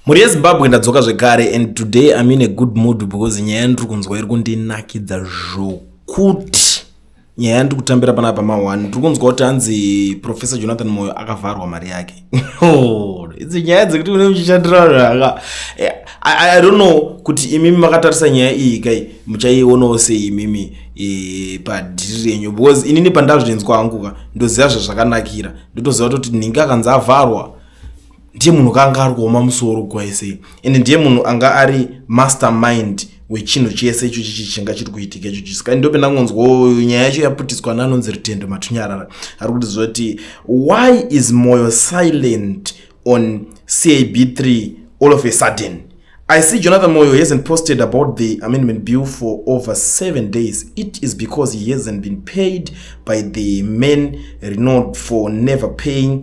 mhuri yezimbabwe ndadzoka zvekare and today im in a good mood because nyaya yandiri kunzwa iri kundinakidza zvokuti nyaya yandiri kutambira panapa ma1 ndiri kunzwa kuti hanzi professor jonathan moyo akavharwa mari yake Oh, idzi nyaya dzekuti une muchishandira zvaka eh, i don't know kuti imimi makatarisa nyaya iyi kai muchaionawo sei imimi eh, padhiri renyu because inini pandazvinzwa hangu ka ndoziva zvazvakanakira ndotoziva kuti ningi akanzi avharwa ndiye munhu kanga ari kuoma musoro gwai sei ende ndiye munhu anga ari mastermind wechinhu chese icho chichi chinga chiri kuitika icho chiso kai ndope ndangonzwawo nyaya yacho yaputiswa nanonzi rutendo matunyarara ari kuti zvoti why is moyo silent on cab 3 all of a sudden i see jonathan moyo hasn't posted about the amendment bill for over seven days it is because he hasn't been paid by the man renod for never paying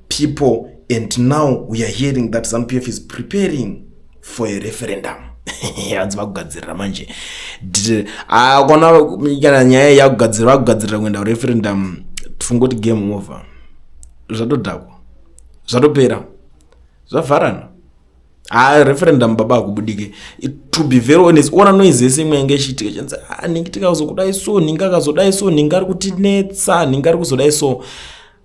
people and now we are hearing that zanupf is preparing for a referendum hanzi vakugadzirira manje ah, kona kana nyaya yakugadzirira vakugadzirira kuenda kureferendum tifungoti game over zvatodhakwa zvatopera zvavharana ha referendum baba akubudike to be very honest ona noise yese imwe yange ichiitika chanzi ah, ningi tikazokudai so ningi akazodai so ningi ari kutinetsa ningi ari kuzodai so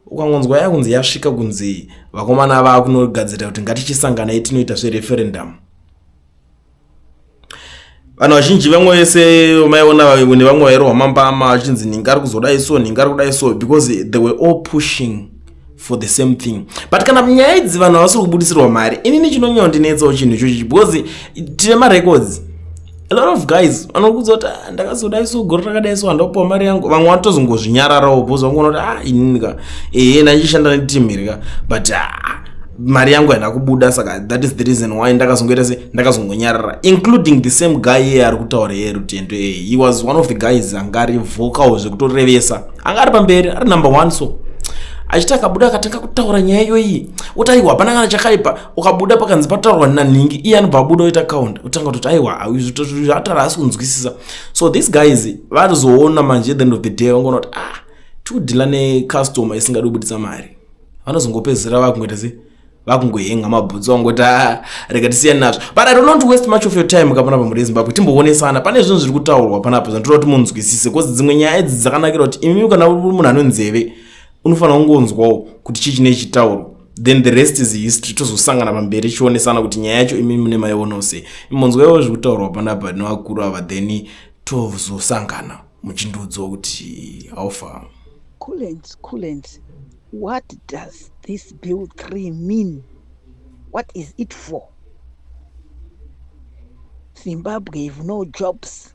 ukangonzwa yakunzi yasvika kunzi vakomana vava kunogadzirira kuti ngatichisanganai tinoita zvereferendamu vanhu vazhinji vamwe vese vamaiona vavimwe nevamwe vairwa mambama vachinzi nhinga ari kuzodai so nhinga ari kudai so because they were all pushing for the same thing but kana nyaya idzi vanhu havasiri kubudisirwa mari inini chinonyandinetsawo chinhu ichochi because tine marecords a lot of guys vanokuudza kuti ah, ndakazodai so gore rakadai so handa kupiwa mari yangu vamwe vatozongozvinyararawo bhozi vangu vanokuti ah inini ka ehe ndaichishanda neteam here ka but ah, mari yangu haina kubuda saka that is the reason why ndakazongoita se ndakazongonyarara including the same guy iye ari kutaura iye rutendo iye he was one of the guys anga ari vocal zvekutorevesa anga ari pamberi ari number one so achiti akabuda akatanga kutaura nyaya iyoyi oti aiwa hapana kana chakaipa ukabuda pakanzi pataurwa nanhingi iye anobva abuda oita count otanga kutoti aiwa atara asi kunzwisisa so these guys vanozoona manje the end of the day vangoona kuti ah tiudhila necustomer isingadi kubudisa mari vanozongopedzera vakungoita se vakungohenga mabhutsu vangoti ah, rega tisiyani nazvo but i do not waste much of your time kapana pamhuri yezimbabwe timboonesana pane zvinhu zviri kutaurwa panapa zvantoda kuti munzwisise bcause dzimwe nyaya idzi dzakanakira kuti imimi kana munhu anonzeve unofanira kungonzwawo kuti chii chine chitauro then the rest is history tozosangana pamberi chionesana kuti nyaya yacho imi mune maionawo sei imonzwaiwo zviri kutaurwa panapa nevakuru ava then tozosangana muchindiudziwa kuti haufa coolant coolant what does this bill three mean what is it for zimbabwe have no jobs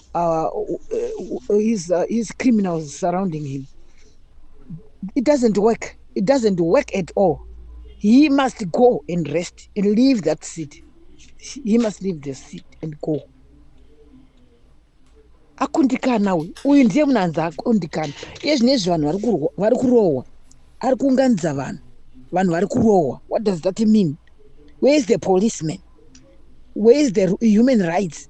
uh, uh, his, uh, his criminals surrounding him it doesn't work it doesn't work at all he must go and rest and leave that seat he must leave the seat and go akundikana uyu uyu ndiye munhu anzi akundikana iye zvine izvi vanhu vari kurohwa ari kuunganidza vanhu vanhu vari kurohwa what does that mean where is the policeman where is the human rights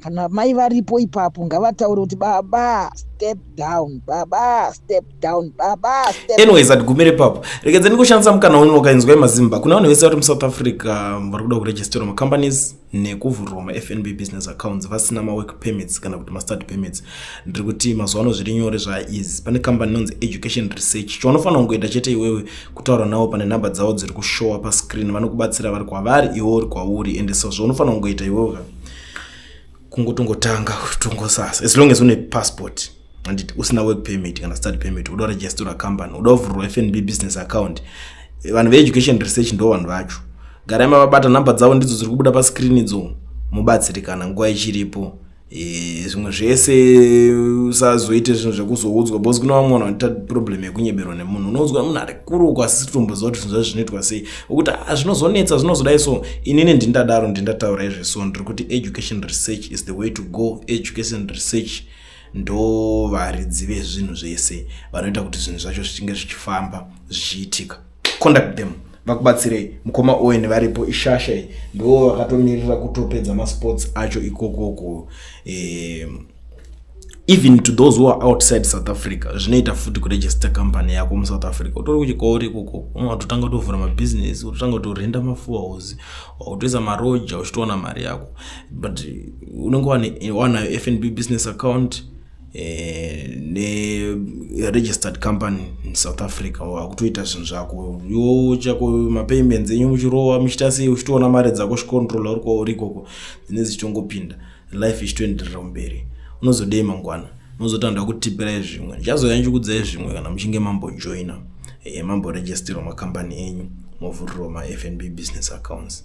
kana mai varipo ipapo ngavataure kuti baba step down baba step down baba step anyways atigumire ipapo rekedza ndikushandisa mukana uno ukainzwa imazimba kuna vanhu vese vari musouth africa um, vari kuda kuregisterwa macompanies nekuvhurwa mafnb business accounts vasina mawork permits kana kuti mastart permits ndiri kuti mazuva ano zviri nyore zvaaeasy pane company inonzi education research chaunofanira kungoita chete iwewe kutaura navo pane number dzavo dziri kushowa pascreen vanokubatsira vari kwavari iwe uri kwauri ende so zvaunofanira kungoita iwewe kungotongotanga tongosasa as long as une passport anditi usina work permit kana study permit uda registora company uda kuvhurwa fnb business account vanhu veeducation research ndo vanhu vacho garai mavabata number dzavo ndidzo dziri kubuda pascreen idzo mubatsirikana nguva ichiripo Eh, zvimwe zvese usazoite zvinhu zvekuzoudzwa bcause kune vamwe vanhu vanoita problem yekunyeberwa nemunhu unoudzwa munhu ari kuruku asi sitomboziva kuti zvinhu zvacho zvinoitwa sei okuti a ah, zvinozonetsa zvinozodai so inini ndindadaro ndindataura izve so ndiri kuti education research is the way to go education research ndo varidzi vezvinhu zvese vanoita kuti zvinhu zvacho zvichinge zvichifamba zvichiitika conduct them vakubatsirei mukoma owen varipo ishasha iyi ndo vakatomirira kutopedza masports acho ikokoko eh, even to those who are outside south africa zvinoita futi kuregister company yako musouth africa utori kuchikori ikoko unatotanga utovhura mabusiness utotanga utorenda mafuahouse wakutoisa maroja uchitoona mari yako but unenge wanayo fnb business account Eh, neregistered company in south africa akutoita zvinhu zvako yo chako mapayments enyu muchirowa muchiita sei uchitoona mari dzako chicontrola uri kwauri ikoko dzine dzichitongopinda life ichitoenderera mberi unozodei mangwana unozotanda kutipirai zvimwe ndichazouya ndichikudzai zvimwe kana muchinge mambojoina eh, mamboregisterwa makambani enyu movhurirwa mafnb business accounts